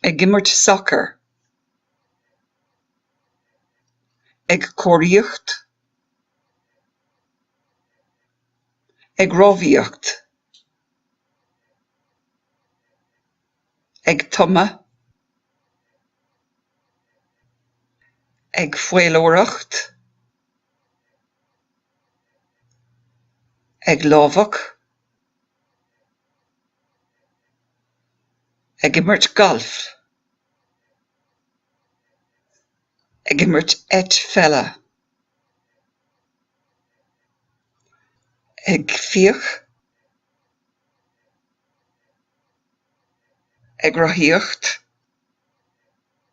ag imirt sacair, ag curachóireacht, ag rámhaíocht, ag tumadh, ag faoileoireacht. ag lámhach, ag imirt gailf, ag imirt eitpheile, ag fiach, ag rothaíocht.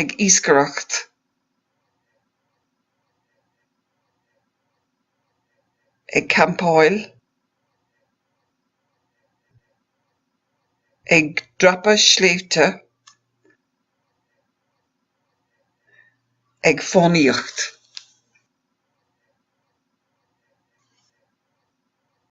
ag iascaireacht ag campáil ag dreapadh sléibhte ag fánaíocht.